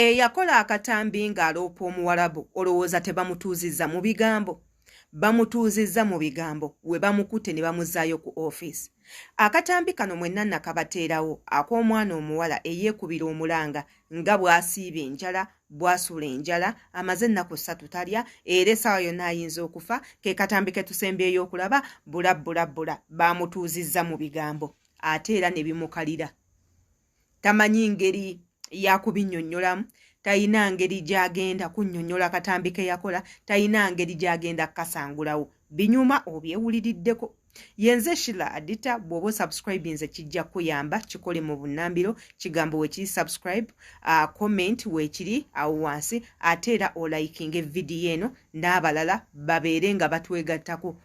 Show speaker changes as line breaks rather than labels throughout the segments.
Eyakola akatambi ng'aloopa Omuwarabu olowooza tebamutuuzizza mu bigambo? Bamutuuzizza mu bigambo we bamukutte ne bamuzzaayo ku ofiisi. Akatambi kano mwenna nakabateerawo ak'omwana omuwala eyeekubira omulanga nga bw'asiiba enjala, bw'asula enjala, amaze ennaku ssatu talya era essaawa yonna ayinza okufa, ke katambi ke tusembyeyo okulaba, bula bula bula. Baamutuuzizza mu bigambo ate era ne bimukalira. tamanyi ngeri yakubinyonyolamu tayina ngeri gyagenda kunyonyola katambi keyakola tayina ngeri gyagenda kukasangulawo binyuma obyewuliriddeko yenze shila adita bwoba osubscribinze kijja kuyamba kikole mu bunambiro kigambo wekiri subscribe uh, comment wekiri awo wansi ate era olaikinga evidiyo eno n'abalala babeere nga batwegattako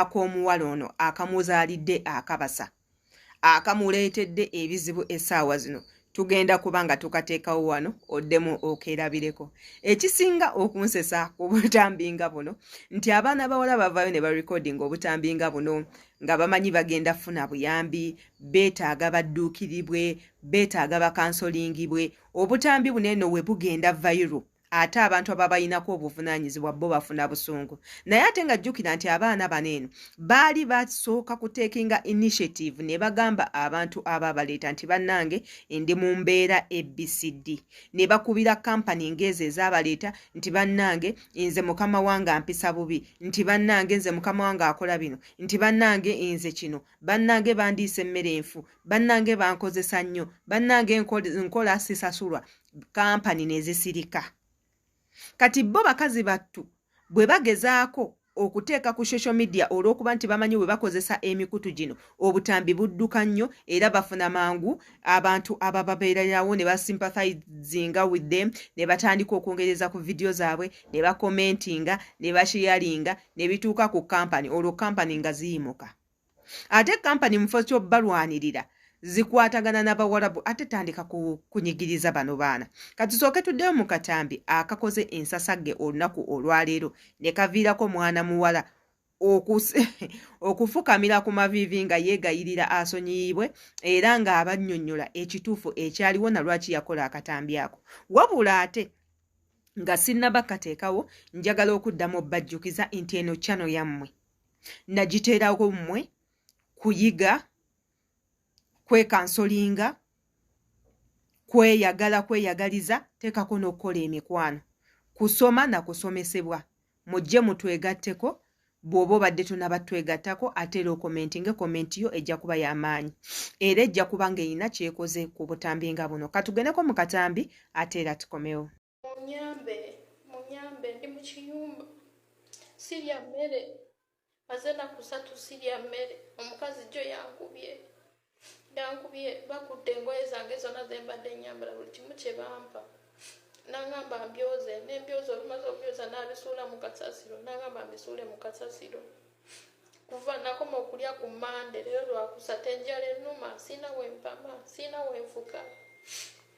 ak'omuwala ono akamuzaalidde akabasa akamuleetedde ebizibu essaawa zino tugenda kuba nga tukateekawo wano oddemu okeerabireko ekisinga okunsesa ku butambi nga buno nti abaana bawala bavaayo ne barekodinga obutambi nga buno nga bamanyi bagenda funa buyambi beetaaga badduukiribwe beetaaga bakansolingibwe obutambi buno eno we bugenda vayiro ate abantu ababalinako obuvunanyizibwa bo bafuna busungu naye ate nga jjukira nti abaana bano eno baali basooka kutekinga initiative ne bagamba abantu aba baleeta nti bannange ndi mu mbeera abcd ne bakubira kampani ngaezo ezabaleeta nti bannange nze mukama wange ampisa bubi nti bannange nze mukama wange akola bino nti bannange nze kino bannange bandiisa emmere enfu bannange bankozesa nnyo bannange nkola sisasulwa kampani nezisirika kati bo bakazi battu bwe bagezaako okuteeka ku social media olw'okuba nti bamanyi bwe bakozesa emikutu gino obutambi budduka nnyo era bafuna mangu abantu abababeererawo ne basympathizinga with them ne batandika okwongereza ku vidiyo zaabwe ne bakomentinga ne basheyalinga ne bituuka ku kampani olwo kampani nga ziyimuka ate kampani mufo kyobalwanirira zikwatagana nabawarabu ate tandika kunyigiriza bano baana katusooke tuddeyo mu katambi akakoze ensasagge olunaku olwaleero nekaviirako mwana muwala okufukamira ku maviivi nga yeegayirira asonyiyibwe era ng'abannyonnyola ekituufu ekyaliwo na lwaki yakola akatambi ako wabula ate nga sinnaba kateekawo njagala okuddamu obbajjukiza nti eno kyano yammwe nagiteerawo mmwe kuyiga kwekansolinga kweyagala kweyagaliza teekako n'okukola emikwano kusoma na kusomesebwa mujje mutwegatteko bw'oba obadde tonaba twegattako ate era okomenti nga komenti yo ejja kuba y'amaanyi era ejja kuba ng'erina kyekoze ku butambi nga buno katugende ko mu katambi ate era tukomewo Munyambe, munyambe
ndi mu kiyumba sirya mmere maze ennaku satu sirya mmere omukazi jjo yankubye yankubye bakudde engoye zange zonna ze mbadde nyambala buli kimu kye bampa nangamba mbyoze nembyoza olumaze okubyoza nabisuula mu kasasiro nangamba mbisuule mu kasasiro kuva nakoma okulya ku mande leero lwakusatu enjala ennuma siina wempama siina wenfuka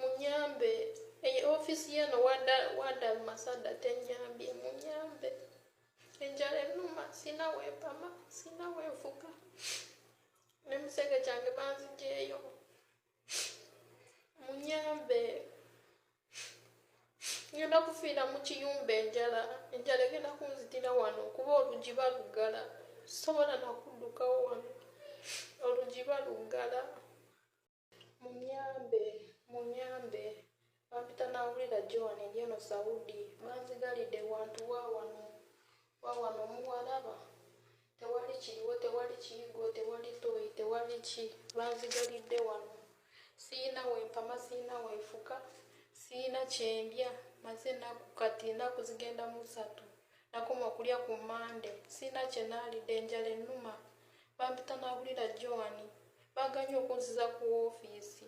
munyambe eyo ofisi yeno wada masada tenyambye munyambe enjala enuma sina wempama sina wenfuka nemusenge kyange banzijeyo munyambe ngenda kufiira mu kiyumba enjala enjala egenda kunzitira wano kuba olugi baluggala sobola nakuddukawo wano olugi baluggala munyambe munyambe bampita nawulira joan eryeno saudi banzigalidde wantu wawano wawano muwalaba tewali kiriwo tewali kiyigo tewali toyi tewali ki banzigalidde wano siyina wempama siyina wenfuka siyina kyendya maze naku kati enaku zigenda musatu nakoma okulya ku mande sirina kye naalidde enjala ennuma bampita n'abulira joan baganye okunziza ku woofiisi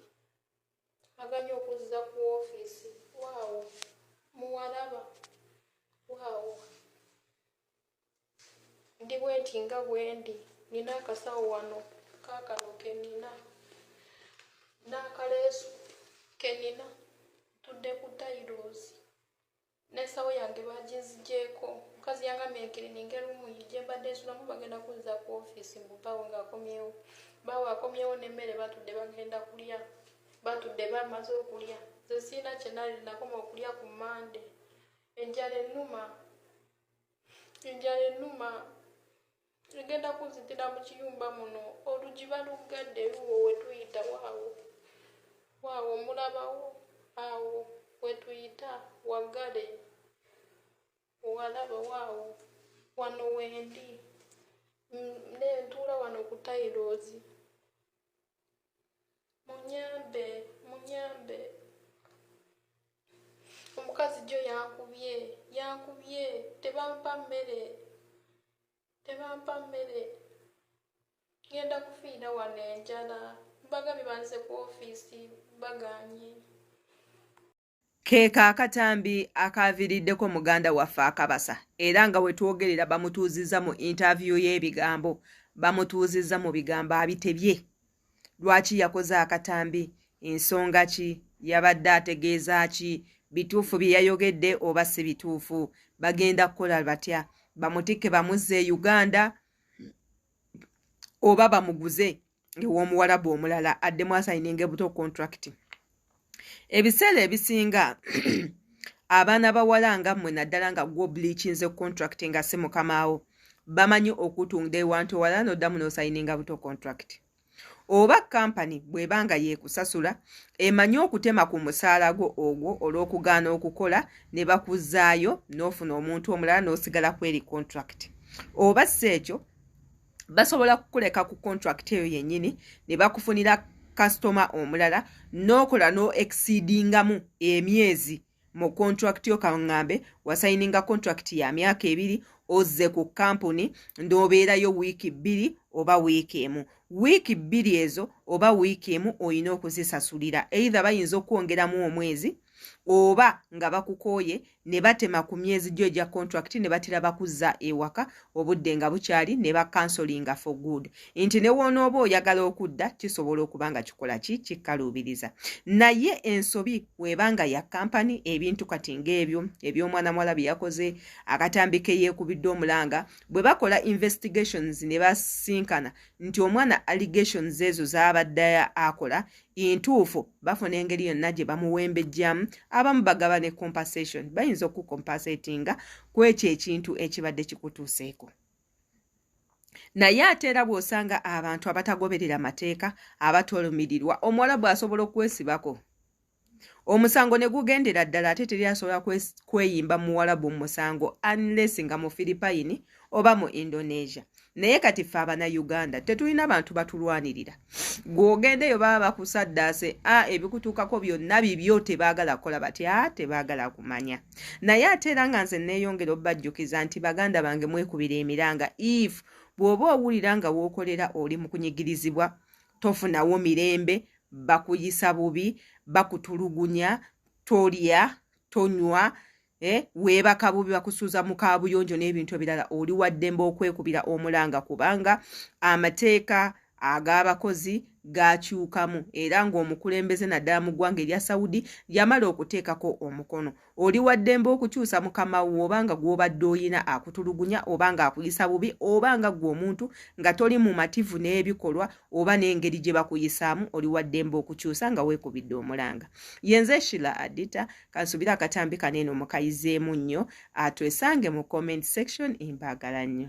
baganye okunziza ku woofiisi waawo muwalaba waawo ndi bwenti nga bwendi nina akasawo wano kakano kenina n'akaleesu kenina tudde ku tairosi n'ensawo yange baaginzigyeko mukazi yangambye nkirininge luumu ye gye mbadde nsulamu bagenda kunza ku ofiisi mbu bbaawo ng'akomyewo bbaawo akomyewo n'emmere batudde bagenda kulya batudde bamaze okulya nze siina kye nali nakoma okulya ku mande enjala ennuma enjala ennuma egenda kunzitira mu kiyumba muno olugi baluggadde luwo wetuyita waawo waawo mulabawo awo wetuyita waggale walaba waawo wano wendi nentuula wano ku tairozi munyambe munyambe omukazi jo yankubye yankubye tebampa mmere tebampa mmere ngenda kufiira wano enjala bagabye banze ku ofiisi baganye
Keeka akatambi akaaviriddeko muganda waffe akabasa era nga wetwogerera bamutuuzizza mu interview y'ebigambo bamutuuzizza mu bigambo abitebye lwaki yakoze akatambi ensonga ki yabadde ategeeza ki bituufu bye yayogedde oba si bituufu bagenda kukola batya bamutikke bamuzze e uganda oba bamuguze ew'omuwalabu omulala addemu asayininga ebuto contract ebiseera ebisinga abaana bawala nga mmwe naddala nga gwo bleachinze contract nga si mukamaawo bamanyi okutunda ewantu ewala noddamu nosayininga buto contract oba kampani bw'eba nga yeekusasula emanyi okutema ku musaala gwo ogwo olw'okugaana okukola ne bakuzaayo n'ofuna omuntu omulala n'osigala kweri contract oba si ekyo basobola kukuleka ku contract eyo yennyini ne bakufunira kasitoma omulala n'okola n'oexceedingamu emyezi mu contract yo kaŋŋambe wasayininga contract ya myaka ebiri ozze ku kampuni n'obeerayo wiiki bbiri oba wiiki emu wiiki bbiri ezo oba wiiki emu olina okuzisasulira eitha bayinza okwongeramu omwezi oba nga bakukooye ne batema ku myezi gyo egya contract ne batera bakuzza ewaka obudde nga bukyali ne bakansolinga for good nti ne woonooba oyagala okudda kisobola okuba nga kikola ki kikaluubiriza naye ensobi webanga ya kampani ebintu kati ng'ebyo eby'omwana muwala bye yakoze akatambi ke yeekubidde omulanga bwe bakola investigations ne basinkana nti omwana allegations ezo zaabadde akola entuufu bafuna engeri yonna gye bamuwembejjamu abamu bagaba ne compensation bayinza okukompasatinga ku ekyo ekintu ekibadde kikutuuseeko naye ate era bw'osanga abantu abatagoberera amateeka abatolumirirwa omuwala bw'asobola okwesibako omusango ne gugendera ddala ate teri asobola kweyimba muwalabu omusango unless nga mufiripayini oba mu indonesia naye kati ffe abana uganda tetulina bantu batulwanirira gweogendeyo baba bakusaddaase a ah, ebikutuukako byonna bibyo tebaagala kukola batya tebaagala kumanya naye ate era nga nze neeyongera obubajjukiza nti baganda bange mwekubira emiranga if bw'oba owulira nga wookolera oli mu kunyigirizibwa tofunawo mirembe bakuyisa bubi bakutulugunya tolya tonywa eh, weebaka bubi bakusuuza mu kaabuyonjo n'ebintu ebirala oli waddembe okwekubira omulanga kubanga amateeka ag'abakozi gaakyukamu era ng'omukulembeze naddala mu ggwanga erya saudi yamala okuteekako omukono oli waddembe okukyusa mukama wo oba nga gw'obadde oyina akutulugunya oba ng'akuyisa bubi oba nga ggwe omuntu nga toli mumativu n'ebikolwa oba n'engeri gye bakuyisaamu oli waddembe okukyusa nga weekubidde omulanga yenze shila adita kansubire akatambi kano eno mukayizeemu nnyo atwesange mu comment section mbagala nnyo